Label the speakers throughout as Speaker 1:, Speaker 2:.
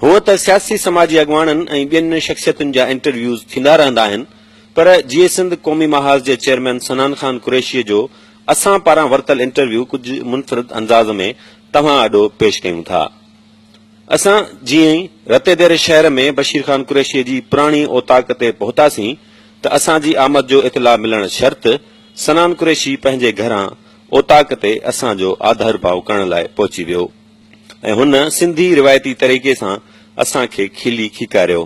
Speaker 1: هونء ته سياسي سماجي اڳواڻن ۽ ٻين شخصيتن جا انٽرويوز ٿيندا رهندا آهن پر جيئي سنڌ قومي محاذ جي چيئرمين سنان خان قريشيء جو اسان پاران ورتل انٽرويو ڪجهه منفرد انداز ۾ توهان آڏو پيش ڪيون ٿا. اسان جيئي رتي دير شهر ۾ بشير خان قريشيء جي پراڻي اوطاق تي پهتاسين ته اسان جي آمد جو اطلاع ملڻ شرط سنان قريشي پنهنجي گهران اوطاق تي اسان جو آڌرڀاء ڪرڻ لاء پهچي ويو. ۽ هن سنڌي روايتي طريقي سان اسان کي کلي کيڪاريو،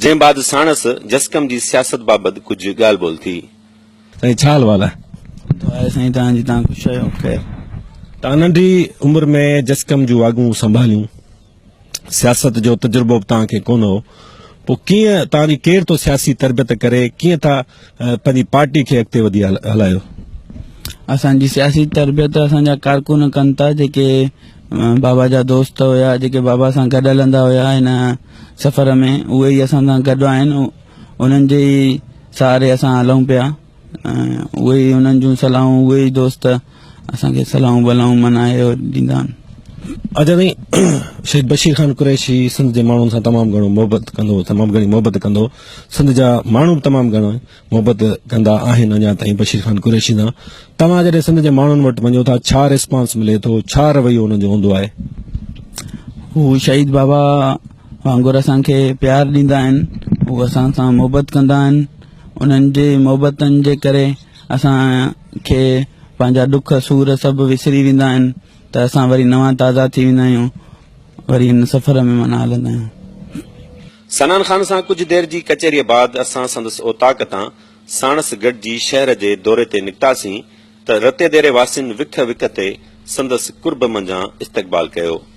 Speaker 1: جنهن بعد ساڻس جسقم جي سياست بابت ڪجهه ڳالهه ٻولهه ٿي. سائين ڇا
Speaker 2: احوال آهي؟ دعا آهي سائين توهان
Speaker 3: جي توهان خوش رهيو خير. توهان
Speaker 2: ننڍي عمر ۾ جسقم جون واڳون سنڀاليون، سياست جو تجربو به توهان کي ڪونه هو، پوء ڪيئن توهان جي ڪير ٿو سياسي تربيت ڪري، ڪيئن ٿا؟ پنهنجي پارٽي کي اڳتي وڌي هلايو. اسان
Speaker 3: جي سياسي تربيت اسان جا ڪارڪن ڪن ٿا جيڪي بابا جا دوست هيا جيڪي بابا سان گڏ هلندا هيا هن سفر ۾ اهي ئي اسان سان گڏ آهن انهن جي ئي سهاري اسان هلون پيا اهي ئي انهن جون صلاحون اهي ئي دوست اسان کي صلاحون بلاحون منا اهي ڏيندا آهن. اجهه تائين
Speaker 2: شهيد بشير خان قريشي سنڌ جي ماڻهن سان تمام گهڻو محبت ڪندو هو تمام گهڻي محبت ڪندو هو سنڌ جا ماڻهو به تمام گهڻو محبت ڪندا آهن اڃا تائين بشير خان قريشي سان توهان جڏهن سنڌ جي ماڻهن وٽ وڃو ٿا ڇا ريسپانس ملي ٿو ڇا رويو انهن جو هوندو آهي
Speaker 3: هو شهيد بابا وانگر اسان کي پيار ڏيندا آهن هو اسان سان محبت ڪندا آهن انهن جي محبتن جي ڪري اسان کي پنهنجا ڏک سور سڀ وسري ويندا آهن ته اسان وري نوان تازا ٿي ويندا آهيون وري ان سفر ۾ معنيٰ هلندا آهيون. سنان خان
Speaker 1: سان ڪجهه دير جي ڪچهريء بعد اسان سندس اوطاق تان ساڻس گڏجي شهر جي دوري تي نڪتاسين ته رتيديري واسين وک وک تي سندس قرب منجهان استقبال ڪيو.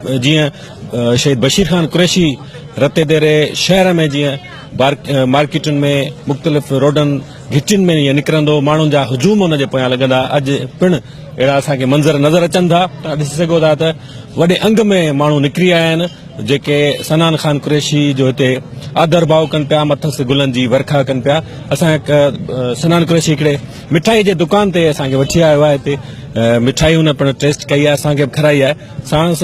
Speaker 1: جيئن
Speaker 2: شهيد بشير خان قريشي رتي ديري شهر ۾ جيئن مارڪيٽن ۾ مختلف روڊن گهٽين ۾ جيئن نڪرندو ماڻهن جا هجوم ان جي پويان لڳندا اڄ پڻ اهڙا اسان کي منظر نظر اچن ٿا تون ڏسي سگهو ٿا ته وڏي انگ ۾ ماڻهو نڪري آيا آهن جيڪي سنان خان قريشي جو هتي آدر ڀاء ڪن پيا مٿس گلن جي ورکا ڪن پيا اسان سنان قريشي هڪڙي مٺائي جي دڪان تي اسان کي وٺي آيو آهي هتي مٺائي هن پڻ ٽيسٽ ڪئي آهي اسان کي به کارائي آهي ساڻس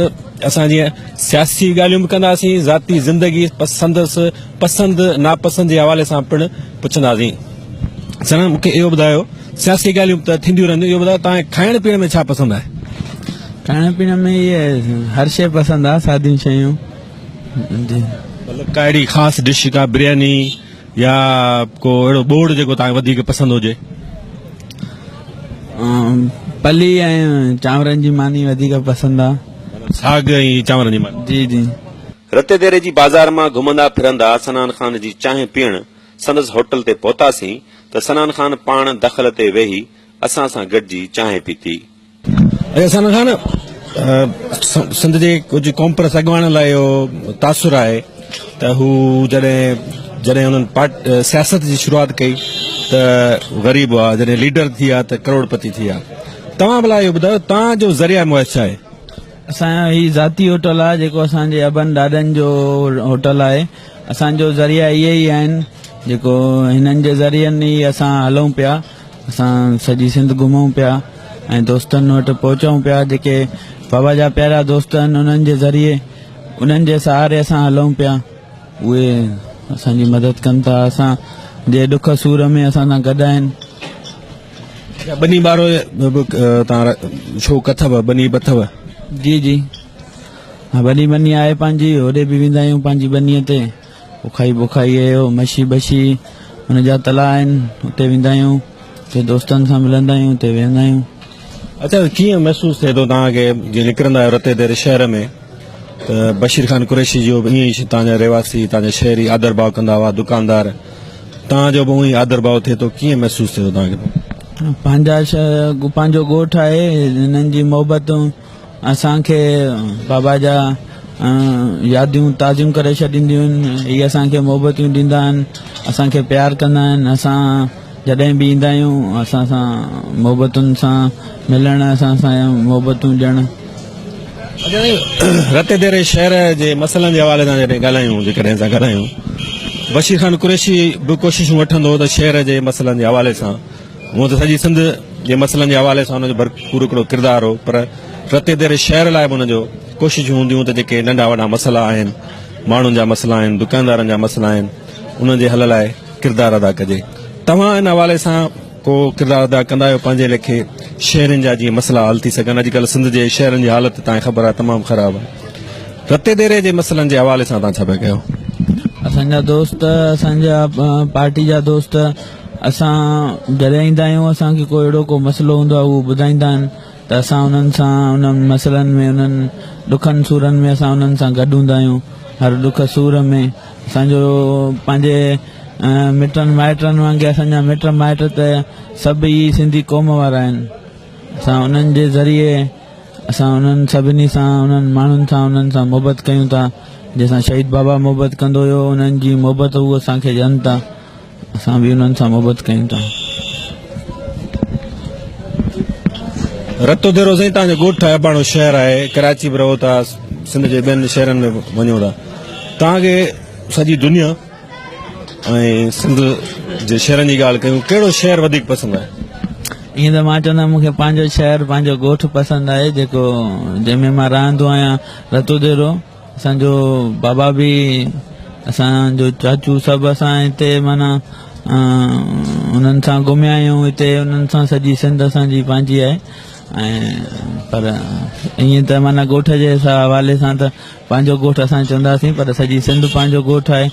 Speaker 2: اسان جيئن سياسي ڳالهيون به ڪنداسين، ذاتي زندگي، سندس پسند ناپسند جي حوالي سان پڻ پڇنداسين. ساڻس مون کي اهو ٻڌايو، سياسي ڳالهيون ته ٿينديون رهنديون، اهو ٻڌايو توهان کي کائڻ پيئڻ ۾ ڇا پسند آهي؟ کائڻ
Speaker 3: پيئڻ ۾ اهي هر شيء پسند آهي، ساديون شيون.
Speaker 2: مطلب ڪا اهڙي خاص ڊش، ڪا برياني. يا ڪو اهڙو ٻوڙ جيڪو توهان کي وڌيڪ پسند هجي؟
Speaker 3: پلي ۽ چانورن جي ماني وڌيڪ پسند آ. ساڳ ۽
Speaker 2: چانورن جي ماني. جي جي.
Speaker 3: رتي ديري جي
Speaker 1: بازار مان گهمندا ڦرندا سنان خان جي چانهه پيئڻ سندس هوٽل تي پهتاسين ته سنان خان پاڻ دخل تي ويهي اسان سان گڏجي چانهه پيتي. احسان
Speaker 2: خان سنڌ جي ڪجهه قومپرست اڳواڻن لاء اهو تاثر آهي ته هو جڏهن جڏهن انهن پارٽ سياست جي شروعات ڪئي ته غريب هئا جڏهن ليڊر ٿي ويا ته ڪروڙپتي ٿي ويا توهان ڀلا اهو ٻڌايو توهان جو ذريعه معاش ڇا آهي؟ اسان جو هي
Speaker 3: ذاتي هوٽل آهي جيڪو اسان جي ابن ڏاڏن جو هوٽل آهي اسان جو ذريعا اهي ئي آهن جيڪو هنن جي ذريعن ئي اسان هلون پيا. اسان سڄي سنڌ گهمون پيا ۽ دوستن وٽ پهچون پيا جيڪي بابا جا پيارا دوست آهن انهن جي ذريعي انهن جي سهاري اسان هلون پيا اهي اسان جي مدد ڪن ٿا اسان جي ڏک سور ۾ اسان سان گڏ آهن
Speaker 2: بني بارو تان شو ڪٿو بني بٿو جي جي
Speaker 3: بني بني آهي پنهنجي هوڏي به ويندا آهيون پنهنجي بني تي اوکائي بوکائي اهي هو مشي بشي ان جا تلا آهن اتي ويندا آهيون اتي دوستن سان ملندا آهيون اتي ويهندا آهيون اچا
Speaker 2: ڪيئن محسوس ٿئي ٿو توهان کي جي نڪرندا آهيو رتي دير شهر ۾ ته بشير خان قريشي جي به ائين ئي توهان جا رهواسي توهان جا شهري آدر ڀاء ڪندا هئا دڪاندار توهان جو به ائين آدر ڀاء ٿئي ٿو ڪيئن محسوس ٿئي ٿو توهان کي پنهنجا شهر
Speaker 3: پنهنجو ڳوٺ آهي هنن جي محبتون اسان کي بابا جا ياديون تازيون ڪري ڇڏينديون آهن هي اسان کي محبتيون ڏيندا آهن اسان کي پيار ڪندا آهن اسان جڏهن به ايندا آهيون اسان سان محبتن سان ملڻ اسان سان محبتون ڏيڻ
Speaker 2: رتي ديري شهر جي مسئلن جي حوالي سان جڏهن ڳالهايون جيڪڏهن اسان ڳالهايون بشير خان قريشي به ڪوششون وٺندو ته شهر جي مسئلن جي حوالي سان هونئن ته سڄي سنڌ جي مسئلن جي حوالي سان هن جو ڀرپور هڪڙو ڪردار هو پر رتي ديري شهر لاء به هن جو ڪوششون هونديون ته جيڪي ننڍا وڏا مسئلا آهن ماڻهن جا مسئلا آهن دڪاندارن جا مسئلا آهن انهن جي حل لاء ڪردار ادا ڪجي توهان ان حوالي سان ڪو ڪردار ادا ڪندا آهيو پنهنجي ليکي شهرين جا جيئن مسئلا حل ٿي سگهن اڄڪلهه سنڌ جي شهرن جي حالت تان خبر آهي تمام خراب آهي رتي ديري جي مسئلن جي حوالي سان توهان ڇا پيا ڪيو اسان جا
Speaker 3: دوست اسان جا پارٽي جا دوست اسان جڏهن ايندا آهيون اسان کي ڪو اهڙو ڪو مسئلو هوندو آهي هو ٻڌائيندا آهن ته اسان انهن سان انهن مسئلن ۾ انهن ڏکن سورن ۾ اسان انهن سان گڏ هوندا آهيون هر ڏک سور ۾ اسان جو پنهنجي مٽن مائٽن وانگي اسان جا مٽ مائٽ ته سڀ ئي سنڌي قوم وارا آهن اسان انهن جي ذريعي اسان انهن سڀني سان انهن ماڻهن سان انهن سان محبت ڪيون ٿا جنهن سان شهيد بابا محبت ڪندو هيو انهن جي محبت هو اسان کي ڏين ٿا اسان به انهن سان محبت ڪيون ٿا.
Speaker 2: رتو ديرو سائين تان جو ڳوٺ آهي اباڻو شهر آهي ڪراچي به رهو ٿا سنڌ جي ٻين شهرن ۾ به وڃو ٿا تان کي سڄي دنيا ۽ سنڌ جي شهرن جي ڳالهه ڪيون ڪهڙو شهر وڌيڪ پسند آهي ائين ته مان
Speaker 3: چوندم مون کي پنهنجو شهر پنهنجو ڳوٺ پسند آهي جيڪو جنهن ۾ مان رهندو آهيان رتو ديرو اسان جو بابا به اسان جو چاچو سڀ اسان هتي مانا انهن سان گهميا آهيون هتي انهن سان سڄي سنڌ اسان جي پنهنجي آهي پر ائين ته مانا ڳوٺ جي حوالي سان ته پنهنجو ڳوٺ اسان چونداسين پر سڄي سنڌ پنهنجو ڳوٺ آهي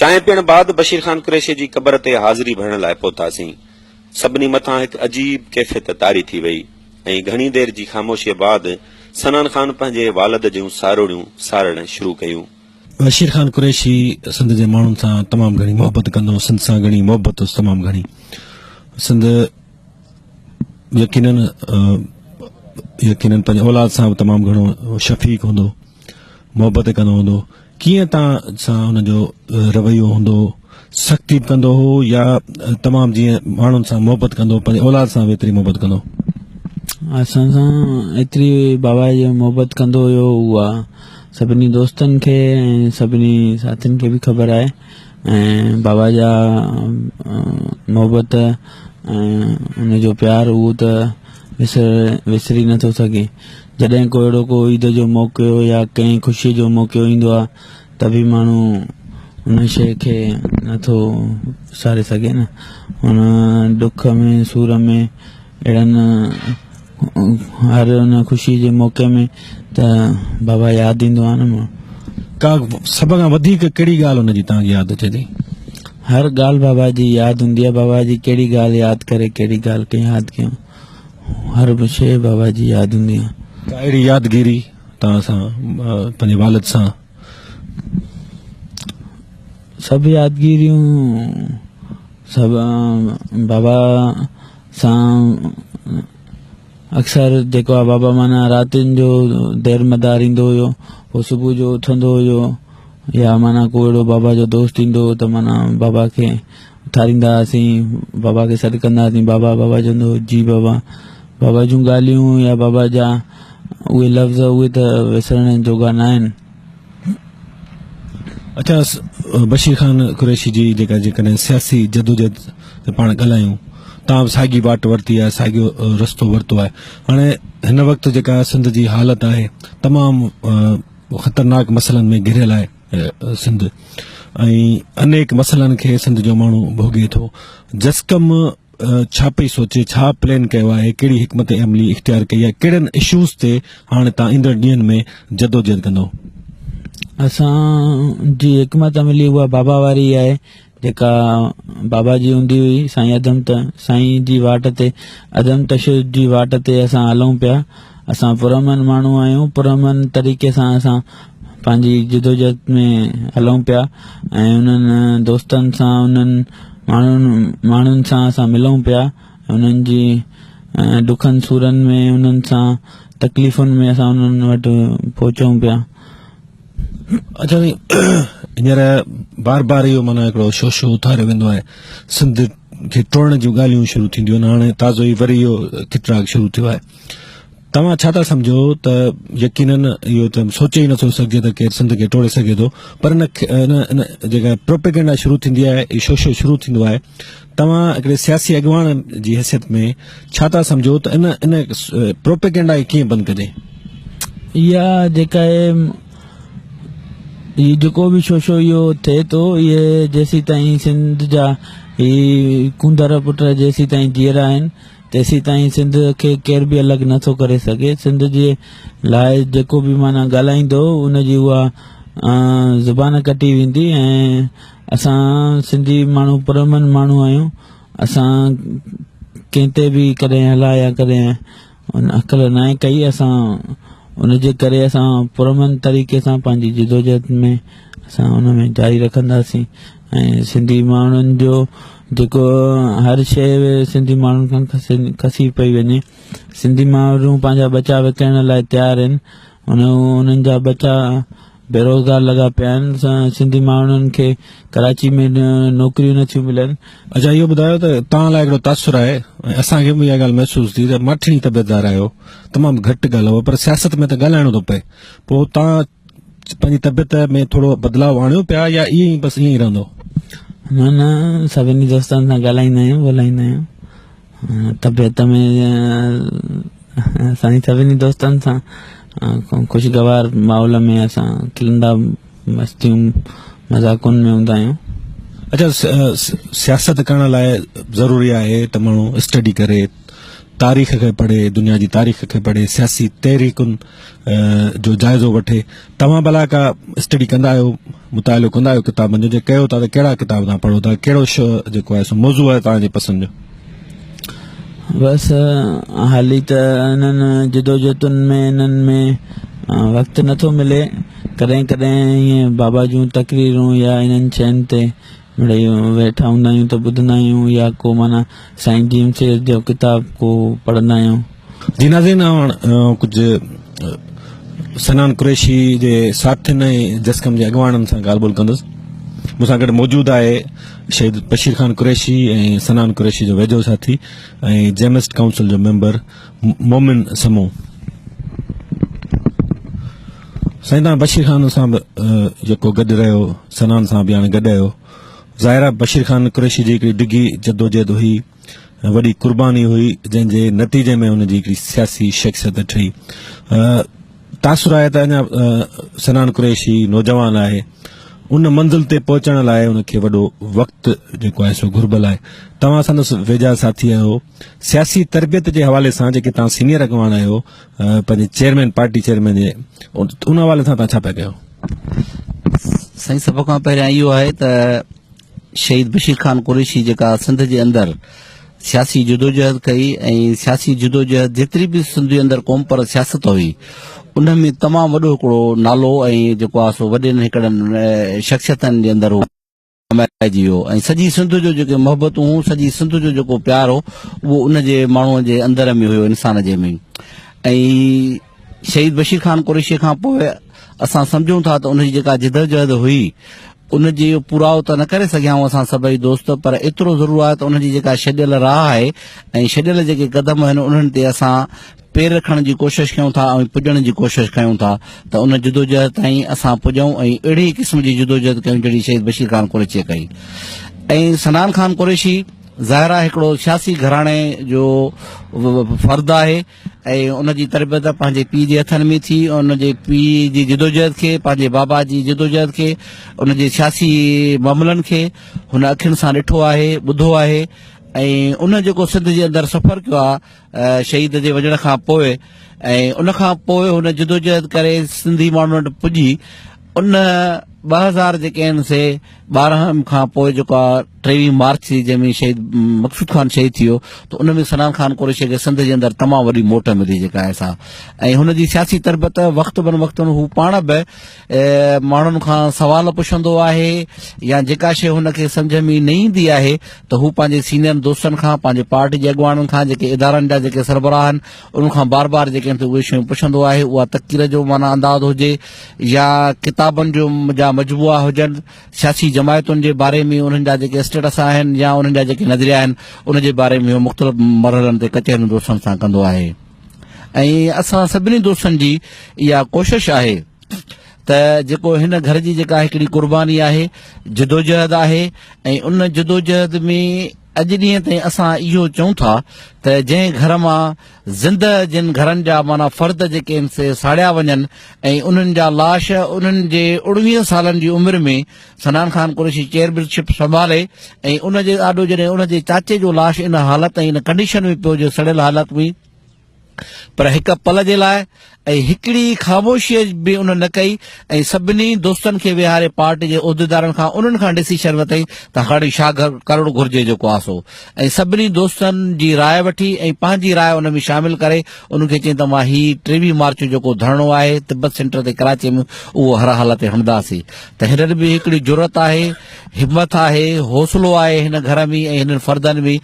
Speaker 1: چانهه پيئڻ بعد بشير خان قريشي جي قبر تي حاضري ڀرڻ لاء پهتاسين. سڀني مٿان هڪ عجيب ڪيفيت طاري ٿي وئي ۽ گهڻي دير جي خاموشيء بعد سنان خان پنهنجي والد جون ساروڙيون سارڙڻ شروع ڪيون. بشير خان
Speaker 2: قريشي سنڌ جي ماڻهن سان تمام گهڻي محبت ڪندو هو. سنڌ سان گهڻي محبت هوس تمام گهڻي. سنڌ. يقينن يقينن پنهنجي اولاد سان به تمام گھڻو شفيق هوندو محبت ڪندو هوندو ڪيئن تان سان ان جو رويو هوندو سختي به ڪندو هو يا تمام جيئن ماڻهن سان محبت ڪندو پنهنجي اولاد سان به ايتري محبت ڪندو اسان
Speaker 3: سان ايتري بابا جو محبت ڪندو هيو اها سڀني دوستن کي ۽ سڀني ساٿين کي به خبر آهي ۽ بابا جا محبت ۽ ان جو پيار اهو ته وسر وسري نه ٿو سگهي جڏهن ڪو اهڙو ڪو عيد جو موقعو يا ڪنهن خوشي جو موقعو ايندو آهي ته به ماڻهو ان شيء کي نه ٿو وساري سگهي نه ان ڏک ۾ سور ۾ اهڙن هر ان خوشي جي موقعي ۾ ته بابا ياد ايندو آهي نه مون ڪا
Speaker 2: سڀ کان وڌيڪ ڪهڙي ڳالهه ان جي توهان کي ياد اچي ٿي هر ڳالهه
Speaker 3: بابا جي ياد هوندي آهي بابا جي ڪهڙي ڳالهه ياد ڪري ڪهڙي ڳالهه کي ياد ڪيون هر به شيء بابا جي ياد هوندي آهي ڪا اهڙي يادگيري
Speaker 2: توهان سان پنهنجي والد سان
Speaker 3: سڀ يادگيريون سڀ بابا سان اڪثر جيڪو آ بابا مانا راتين جو دير مدار ايندو هيو پوء صبح جو اٿندو هيو يا مانا ڪو اهڙو بابا جو دوست ايندو هو ته مانا بابا کي اٿاريندا هئاسين بابا کي سڏ ڪندا هئاسين بابا بابا چوندو هو جي بابا بابا جون ڳالهيون يا بابا جا اهي لفظ اهي ته وسرڻ جوڳا نه آهن
Speaker 2: اچا بشير خان قريشي جي جيڪا جيڪڏهن سياسي جدوجهد تي پاڻ ڳالهايون تان به ساڳي واٽ ورتي آهي ساڳيو رستو ورتو آهي هاڻي هن وقت جيڪا سنڌ جي حالت آهي تمام خطرناڪ مسئلن ۾ گهريل آهي سنڌ ۽ انيڪ مسئلن کي سنڌ جو ماڻهو ڀوڳي ٿو جسقم ڇا پئي سوچي ڇا پلان ڪيو آهي ڪهڙي حڪمت عملي اختيار ڪئي آهي ڪهڙن اشوز تي هاڻي تان ايندڙ ڏينهن ۾ جدوجهد ڪندو اسان
Speaker 3: جي حڪمت عملي اها بابا واري آهي جيڪا بابا جي هوندي هئي سائين ادم ته سائين جي واٽ تي ادم تشدد جي واٽ تي اسان هلون پيا اسان پرامن ماڻهو آهيون پرامن طريقي سان اسان پنهنجي جدوجهد ۾ هلون پيا ۽ انهن دوستن سان انهن ماڻهن ماڻهن سان اسان ملون پيا انهن جي ڏکن سورن ۾ انهن سان تڪليفن ۾ اسان انهن وٽ پهچون پيا
Speaker 2: اچا سائين هينئر بار بار اهو مانا هڪڙو شو شو اٿاريو ويندو آهي سنڌ کي ٽوڙڻ جون ڳالهيون شروع ٿينديون آهن هاڻي تازو ئي وري اهو کٽراڪ شروع ٿيو آهي توهان ڇا ٿا سمجھو ته يقينن اهو ته سوچي ئي نٿو سگھجي ته ڪير سنڌ کي ٽوڙي سگھي ٿو پر ان جيڪا پروپيگنڊا شروع ٿيندي آهي شو شو شروع ٿيندو آهي توهان هڪڙي سياسي اڳواڻ جي حيثيت ۾ ڇا ٿا سمجهو ته ان ان پروپيگنڊا کي ڪيئن بند ڪجي؟ اها
Speaker 3: جيڪا اهي هي جيڪو به شوشو اهو ٿئي ٿو اهي جيسي تائين سنڌ جا هي ڪونڌر پٽ جيسي تائين جيئرا آهن تيسي تائين سنڌ کي ڪير به الڳ نٿو ڪري سگهي سنڌ جي لاء جيڪو به معنيٰ ڳالهائيندو ان جي اها زبان ڪٽي ويندي ۽ اسان سنڌي ماڻهو پرامن ماڻهو آهيون اسان ڪنهن تي به ڪڏهن هلا يا ڪڏهن ان اڪل ناهي ڪئي اسان ان جي ڪري اسان پرامن طريقي سان پنهنجي جدوجهد ۾ اسان ان ۾ جاري رکنداسين ۽ سنڌي ماڻهن جو جيڪو هر شيء سنڌي ماڻهن کان کسي پئي وڃي سنڌي ماڻهو پنهنجا ٻچا وڪڻڻ لاء تيار آهن هن انهن جا ٻچا بيروزگار لڳا پيا آهن سنڌي ماڻهن کي ڪراچي ۾ نوڪريون نٿيون ملن اچا اهو ٻڌايو ته
Speaker 2: توهان لاء هڪڙو تاثر آهي ۽ اسان کي به اها ڳالهه محسوس ٿي ته ماٺيڻي طبيعتدار آهيو تمام گهٽ ڳالهائو پر سياست ۾ ته ڳالهائڻو ٿو پئي پوء توهان پنهنجي طبيعت ۾ ٿورو بدلاء آڻيو پيا يا ائين ئي بس ائين ئي رهندو نه نه
Speaker 3: سڀني دوستن سان ڳالهائيندا آهيون ڳولهائيندا آهيون طبيعت ۾ اسان سڀني دوستن سان خوشگوار ماحول ۾ اسان کلندا مستيون مذاقن ۾ هوندا آهيون اچھا
Speaker 2: سياست ڪرڻ لاء ضروري آهي ته ماڻهو اسٽڊي ڪري تاريخ کي پڙهي دنيا جي تاريخ کي پڙهي سياسي تحريڪن جو جائزو وٺي توهان بلا ڪا اسٽڊي ڪندا آهيو مطالعو ڪندا آهيو ڪتابن جو جي ڪيو ٿا ته ڪهڙا ڪتاب توهان پڙهو ٿا ڪهڙو شو جيڪو آهي سو موضوع آهي توهان جي پسند جو
Speaker 3: بس حالي ته انهن جدوجهدن ۾ انهن ۾ وقت نٿو ملي ڪڏهن ڪڏهن ائين بابا جون تقريرون يا انهن شين تي مڙئي ويٺا هوندا آهيون ته ٻڌندا آهيون يا ڪو معنيٰ سائين جي ايم سيد جو ڪتاب ڪو پڙهندا آهيون. جنازي
Speaker 2: ناوڻ ڪجهه سنان قريشي جي ساٿين ۽ جسقم جي اڳواڻن سان ڳالهه ٻولهه ڪندس. مون سان گڏ موجود آهي شهيد بشير خان قريشي ۽ سنان قريشي جو ويجهو ساٿي ۽ جيمسٽ ڪائونسل جو ميمبر مومن سمون سائين تان بشير خان سان به جيڪو گڏ رهيو سنان سان به هاڻي گڏ آيو ظاهر آ بشير خان قريشي جي هڪڙي ڊگهي جدوجهد هئي وڏي قرباني هئي جنهن جي نتيجي ۾ هن جي هڪڙي سياسي شخصيت ٺهي تاثر آهي ته اڃا سنان قريشي نوجوان آهي ان منزل تي پهچڻ لاء ان کي وڏو وقت جيڪو آهي سو گهربل آهي توهان سندس ويجها ساٿي آهيو سياسي تربيت جي حوالي سان جيڪي توهان سينئر اڳواڻ آهيو پنهنجي چيئرمين پارٽي چيئرمين جي ان حوالي سان توهان ڇا پيا ڪيو
Speaker 4: سائين سڀ کان پهريان اهو آهي ته شهيد بشير خان قريشي جيڪا سنڌ جي اندر سياسي جدوجهد ڪئي ۽ سياسي جدوجهد جيتري به سنڌ جي اندر قوم پر سياست هئي ان ۾ تمام وڏو هڪڙو نالو ۽ جيڪو آهي سو وڏين هڪڙن شخصيتن جي اندر هو ڪمائجي ويو ۽ سڄي سنڌ جو جيڪي محبتون هون سڄي سنڌ جو جيڪو پيار هو اهو ان جي ماڻهو جي اندر ۾ هيو انسان جي ۾ ۽ شهيد بشير خان قريشي کان پوء اسان سمجھون ٿا ته ان جي جيڪا جدوجهد هئي ان جي پوراء ته نه ڪري سگھيا آهيون اسان سڀئي دوست پر ايترو ضرور آهي ته ان جي جيڪا ڇڏيل راهه آهي ۽ ڇڏيل جيڪي قدم آهن انهن تي اسان پير رکڻ جي ڪوشش ڪيون ٿا ۽ پڄڻ جي ڪوشش ڪيون ٿا ته ان جدوجهد تائين اسان پڄون ۽ اهڙي ئي قسم جي جدوجهد ڪيون جهڙي شهيد بشير خان قريشيء ڪئي ۽ سنان خان قريشي ظاهر آهي هڪڙو سياسي گهراڻي جو فرد آهي ۽ ان جي تربيت پنهنجي پيء جي هٿن ۾ ٿي ان جي پيء جي جدوجهد کي پنهنجي بابا جي جدوجهد کي ان جي سياسي معاملن کي هن اکين سان ڏٺو آهي ٻڌو آهي ۽ ان جيڪو سنڌ جي اندر سفر ڪيو آهي شهيد جي وڃڻ کان پوء ۽ ان کان پوء هن جدوجهد ڪري سنڌي ماڻهن وٽ پڄي ان ٻه هزار جيڪي آهن سي ٻارهن کان پوء جيڪا ٽيوي مارچ ٿي جنهن ۾ شهيد مقصود خان شهيد ٿي ويو ته ان ۾ سنان خان قريشي کي سنڌ جي اندر تمام وڏي موٽ ملي جيڪا آهي سا ۽ هن جي سياسي تربت وقت بن وقت هو پاڻ به ماڻهن کان سوال پڇندو آهي يا جيڪا شيء هن کي سمجهه ۾ نه ايندي آهي ته هو پنهنجي سينئر دوستن کان پنهنجي پارٽي جي اڳواڻن کان جيڪي ادارن جا جيڪي سربراهه آهن انهن کان بار بار جيڪي ته اهي شيون پڇندو آهي اها تقرير جو معنيٰ انداز هجي يا ڪتابن جو جا مجموعا هجن سياسي جماعتن جي باري ۾ انهن جا جيڪي اسٽيٽس آهن يا انهن جا جيڪي نظريا آهن ان جي باري ۾ مختلف مرحلن تي ڪچهريون دوستن سان ڪندو آهي ۽ اسان سڀني دوستن جي اها ڪوشش آهي ته جيڪو هن گهر جي جيڪا هڪڙي قرباني آهي جدوجهد آهي ۽ ان جدوجهد ۾ اڄ ڏينهن تائين اسان اهو چون ٿا ته جنهن گهر مان زندهه جن گهرن جا معنيٰ فرد جيڪي سي ساڙيا وڃن ۽ انهن جا لاش انهن جي اڻويهن سالن جي عمر ۾ سنان خان قريشي چيئرمين شپ سنڀالي ۽ ان جي آڏو جڏهن ان جي چاچي جو لاش ان حالت ۽ ان ڪنڊيشن ۾ پيو جو سڙيل حالت ۾ پر هڪ پل جي لاء ۽ هڪڙي خاموشي به ان نه ڪئي ۽ سڀني دوستن کي ويهاري پارٽي جي عهديدارن کان انهن کان ڊسيشن ورتائين ته هاڻي ڇا ڪرڻو گهرجي جيڪو آسو ۽ سڀني دوستن جي راء وٺي ۽ پنهنجي راء ان ۾ شامل ڪري انهن کي چين ته مان هي ٽيوي مارچ جيڪو ڌرڻو آهي تبت سينٽر تي ڪراچي ۾ اهو هر حالت تي هڻداسي ته هنن ۾ هڪڙي جرئت آهي، همٿ آهي، حوصلو آهي هن گهر ۾ ۽ هنن فردن ۾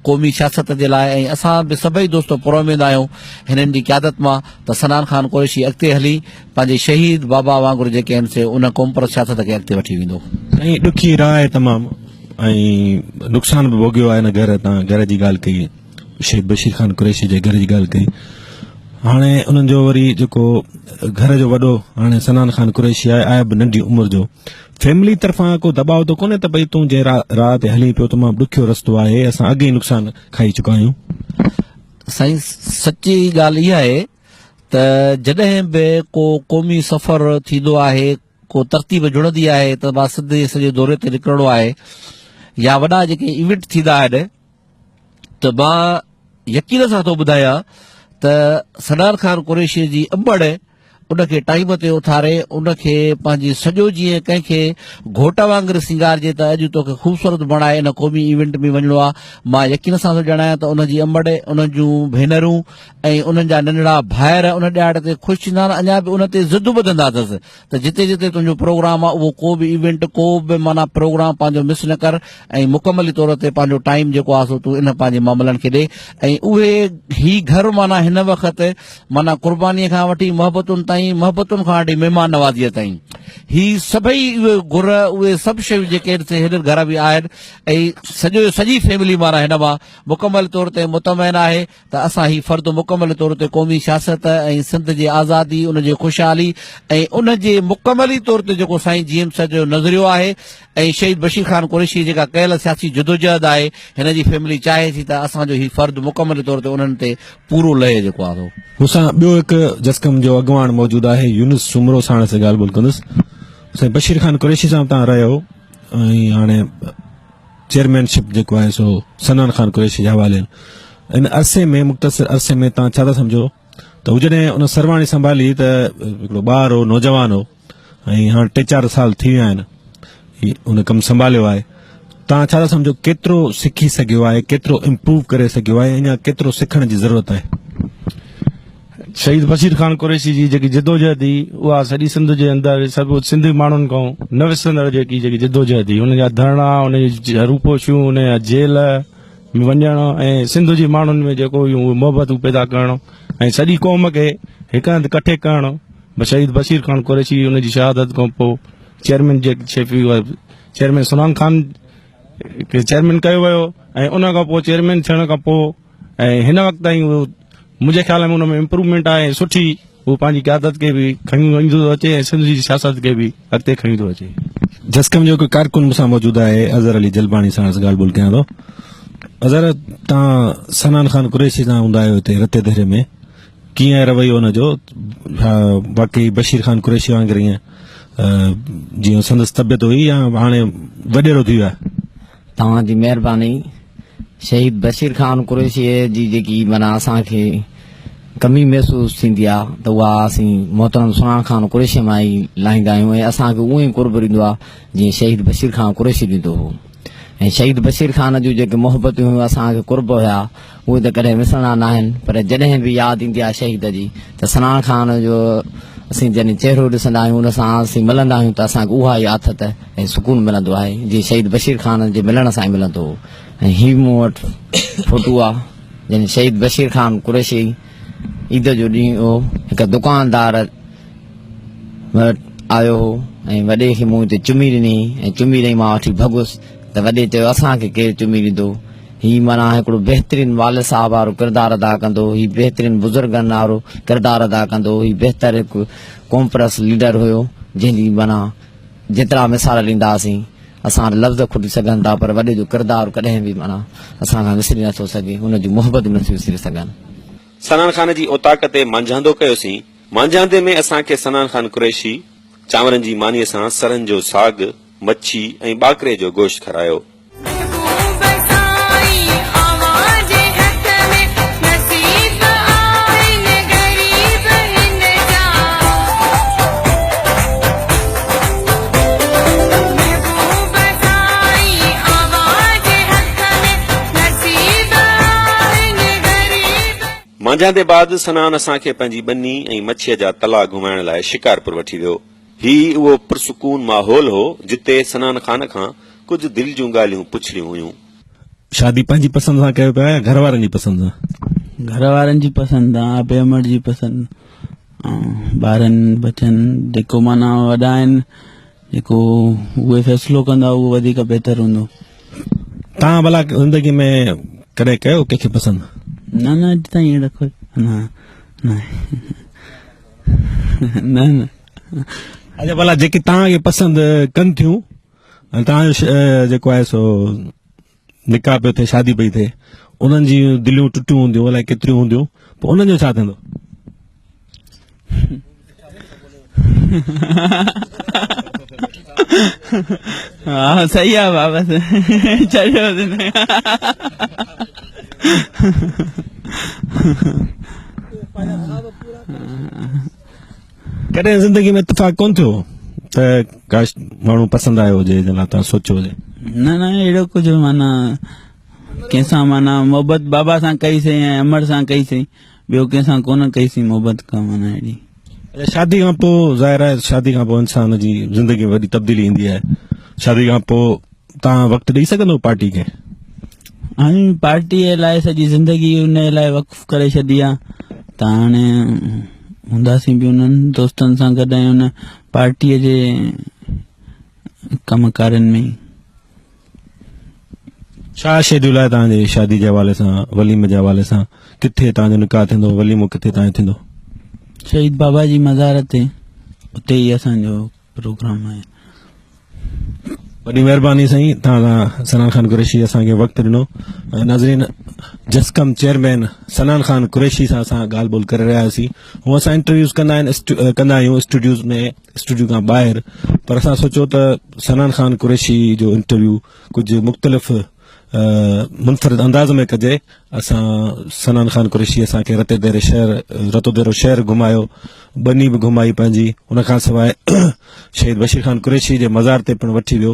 Speaker 4: قومي سياست جي لاء ۽ اسان به سڀئي دوست پراميد آهيون هنن جي قيادت مان ته صنعان خان قريشي اڳتي هلي پنهنجي شهيد بابا وانگر جيڪي آهن سي ان قومپرست سياست کي اڳتي وٺي ويندو. سائين ڏکي راء
Speaker 2: آهي تمام ۽ نقصان به ڀوڳيو آهي هن گهر تان گهر جي ڳالهه ڪئي شيخ بشير خان قريشي جي گهر جي ڳالهه ڪئي هاڻي انهن جو وري جيڪو گهر جو وڏو هاڻي سنان خان قريشي آهي آهي به ننڍي عمر جو فيملي طرفان ڪو دٻاء ته ڪونهي ته ڀئي تون جنهن راهه تي هلين پيو تمام ڏکيو رستو آهي اسان اڳ ئي نقصان کائي چڪا آهيون سائين
Speaker 4: سچي ڳالهه اها آهي ته جڏهن به ڪو قومي سفر ٿيندو آهي ڪو ترتيب جڙندي آهي ته مان سنڌ جي سڄي دوري تي نڪرڻو آهي يا وڏا جيڪي ايونٽ ٿيندا آهن ته مان يقين سان ٿو ٻڌايان ته سنان خان قريشيء جي انبڙ ان کي ٽائيم تي اٿاري ان کي پنهنجي سڄو جيئن ڪنهن کي گهوٽ وانگر سينگارجي ته اڄ توکي خوبصورت بڻائي ان قومي ايونٽ ۾ وڃڻو آ مان يقين سان ٿو ڄاڻايان ته ان جي انبڙ ان جون ڀينرون ۽ انهن جا ننڍڙا ڀائر ان ڏهاڙي تي خوش ٿيندا ۽ اڃا به ان تي زدو ٻڌندا اٿس ته جتي جتي تنهنجو پروگرام آ اهو ڪو به ايونٽ ڪو به معنيٰ پروگرام پنهنجو مس نه ڪر ۽ مڪملي طور تي پنهنجو ٽائيم جيڪو آ سو تون ان پنهنجي معاملن کي ڏي ۽ اهي هي گهر معنيٰ هن وقت معنيٰ قرباني کان وٺي محبتن تائين محبتن کان وٺي مهمان نوازيء تائين هي سڀئي اهي گهر اهي سڀ شيون جيڪي هن گهر ۾ آهن ۽ سڄو سڄي فيملي معنيٰ هن مان مڪمل طور تي مطمئن آهي ته اسان هي فرد مڪمل طور تي قومي سياست ۽ سنڌ جي آزادي، ان جي خوشحالي ۽ ان جي مڪملي طور تي جيڪو سائين جي ايم سيد جو نظريو آهي ۽ شهيد بشير خان قريشيء جيڪا ڪيل سياسي جدوجهد آهي، هن جي فيملي چاهي ٿي ته اسان جو هي فرد مڪمل طور تي انهن تي پورو لهي جيڪو آهي سو. مون سان ٻيو هڪ
Speaker 2: جسقم جو اڳواڻ موجود آهي يونس سومرو ساڻس ڳالهه ٻولهه ڪندس. سائين بشير خان قريشي صاحب تان رهيو ۽ هاڻي چيئرمين شپ جيڪو آهي سو سنان خان قريشي جي حوالي ان عرصي ۾ مختصر عرصي ۾ تان ڇا ٿا سمجھو ته هو جڏهن ان سرواڻي سنڀالي ته هڪڙو ٻار هو نوجوان هو ۽ هاڻ ٽي چار سال ٿي ويا آهن ان ڪم سنڀاليو آهي تان ڇا ٿا سمجھو ڪيترو سکي سگھيو آهي ڪيترو امپروو ڪري سگھيو آهي اڃا ڪيترو سکڻ جي ضرورت آهي
Speaker 5: شهيد بشير خان قريشي جي جيڪي جدوجهد هئي اها سڄي سنڌ جي اندر سڀ سنڌي ماڻهن کان نه وسرندڙ جيڪي جيڪي جدوجهد هئي ان جا ڌرڻا ان جي روپوشيون ان جا جيل ۾ وڃڻ ۽ سنڌ جي ماڻهن ۾ جيڪو هيون اهي محبتون پيدا ڪرڻ ۽ سڄي قوم کي هڪ هنڌ ڪٺي ڪرڻ شهيد بشير خان قريشي ان جي شهادت کان پوء چيئرمين جي شيفي چيئرمين سلام خان کي چيئرمين ڪيو ويو ۽ ان کان پوء چيئرمين ٿيڻ کان پوء ۽ هن وقت تائين هو منهنجي خيال ۾ ان ۾ امپروومينٽ آهي ۽ سٺي هو پنهنجي قيادت کي به کڻي وڃندو ٿو اچي ۽ سنڌ جي سياست کي به اڳتي کڻي ٿو اچي. جسقم
Speaker 2: جو هڪ ڪارڪن مون سان موجود آهي اظهر علي جلباڻي سان عرض ڳالهه ٻولهه ڪيان ٿو. اظهر تان سنان خان قريشي سان هوندا آهيو هتي رتي دهري ۾ ڪيئن آهي رويو ان جو ڇا واقعي بشير خان قريشي وانگر ايئن جيئن سندس طبيعت هئي يا هاڻي وڏيرو ٿي ويو آهي. توهان جي
Speaker 6: مهرباني شهيد بشير خان قريشي جي جيڪي منا اسان کي کمي محسوس ٿيندي آ ته اها اسين محترم سنان خان قريشي مان ئي لاهيندا آهيون ۽ اسان کي اهو ئي قرب ريندو آ جيئن شهيد بشير خان قريشي ڏيندو هو ۽ شهيد بشير خان جون جيڪي محبتون هيون اسان کي قرب هيا اهي ته ڪڏهن وسرڻا ناهن پر جڏهن به ياد ايندي آهي شهيد جي ته سنان خان جو اسين جڏهن چهرو ڏسندا آهيون ان سان اسين ملندا آهيون ته اسان کي اها ئي آٿت ۽ سڪون ملندو آهي جي شهيد بشير خان جي ملڻ سان ئي ملندو هو ۽ هي مون وٽ فوٽو آ جن شهيد بشير خان قريشي عيد جو ڏينهن هو هڪ دڪاندار وٽ آيو هو ۽ وڏي کي مون هتي چمي ڏني ۽ چمي ڏئي مان وٺي ڀڳس ته وڏي چيو اسان کي ڪير چمي ڏيندو، هي معنيٰ هڪڙو بهترين والد صاحب وارو ڪردار ادا ڪندو، هي بهترين بزرگن وارو ڪردار ادا ڪندو، هي بهتر هڪ قومپرست ليڊر هيو، جنهن جي معنيٰ جيترا مثال ڏينداسين اسان وٽ لفظ کٽي سگهن ٿا پر وڏي جو ڪردار ڪڏهن به معنيٰ اسان کان وسري نٿو سگهي، ان جون محبتون به نٿيون وسري سگهن. سنان خان
Speaker 1: جي اوطاق تي مانجهاندو ڪيوسين، مانجهاندي ۾ اسان کي سنان خان قريشي چانورن جي مانيء سان سرن جو ساڳ، مڇي ۽ ٻاڪري جو گوشت کارايو. مانجهاندي بعد سنان اسان کي پنهنجي ٻني ۽ مڇيء جا تلا گهمائڻ لاء شڪارپور وٺي ويو. هي اهو پرسڪون ماحول هو، جتي سنان خان کان ڪجهه دل جون ڳالهيون پڇڻيون هيون. شادي
Speaker 2: پنهنجي پسند سان ڪيو پيا يا گهر وارن جي پسند سان؟ گهر وارن جي
Speaker 3: پسند سان، آپي امڙ جي پسند ۽ ٻارن ٻچن جيڪو معنيٰ وڏا آهن، جيڪو اهي فيصلو ڪندا اهو وڌيڪ بهتر هوندو. توهان
Speaker 2: ڀلا زندگي ۾ ڪڏهن ڪيو ڪنهن کي پسند؟ نه نه اڄ
Speaker 3: تائين اهڙا ڪوئي نه نه آهي. نه نه اچھا
Speaker 2: بھلا جيڪي تان کي پسند ڪن ٿيون تان جو جيڪو آهي سو نڪاح پيو ٿئي شادي پئي ٿئي انهن جي دليون ٽٽيون هونديون الائي ڪيتريون هونديون پوء انهن جو ڇا ٿيندو
Speaker 3: ها صحيح آ بابا چريو
Speaker 2: ڪڏهن زندگي ۾ اتفاق ڪون ٿيو ته ڪاش ماڻهو پسند آيو هجي جن لاء تان سوچيو هجي نه نه اهڙو
Speaker 3: ڪجهه مانا ڪنهن سان مانا محبت بابا سان ڪئي سي ۽ امڙ سان ڪئي سي ٻيو ڪنهن سان ڪونه ڪئي سين محبت ڪا معنيٰ اهڙي. اچا شادي کان
Speaker 2: پوء ظاهر آهي شادي کان پوء انسان جي زندگي ۾ وڏي تبديلي ايندي آهي شادي کان پوء تان وقت ڏئي سگهندو پارٽي کي. هاڻي
Speaker 3: پارٽي لاء سڄي زندگي ان لاء وقف ڪري ڇڏي آ ته هاڻي هونداسين به انهن دوستن سان گڏ ۽ ان پارٽي جي ڪم ڪارين ۾ ئي.
Speaker 2: ڇا شيڊيول آهي توهان جي شادي جي حوالي سان وليم جي حوالي سان ڪٿي توهان جو نڪاح ٿيندو وليمو ڪٿي توهان جو ٿيندو شهيد
Speaker 3: بابا جي مزار تي اتي ئي اسان جو پروگرام آهي
Speaker 2: وڏي مهرباني سائين توهان سنان خان قريشي اسان کي وقت ڏنو ناظرين جسڪم چيئرمين سنان خان قريشي سان اسان ڳالهه ٻولهه ڪري رهياسي هو اسان انٽرويوز ڪندا آهن ڪندا آهيون اسٽوڊيوز ۾ اسٽوڊيو کان ٻاهر پر اسان سوچيو ته سنان خان قريشي جو انٽرويو ڪجهه مختلف منفرد انداز ۾ ڪجي اسان سنان خان قريشي اسان کي رتو ديرو شهر رتو ديرو شهر گهمايو بني به گهمائي پنهنجي ان کان سواء شهيد بشير خان قريشي جي مزار تي پڻ وٺي ويو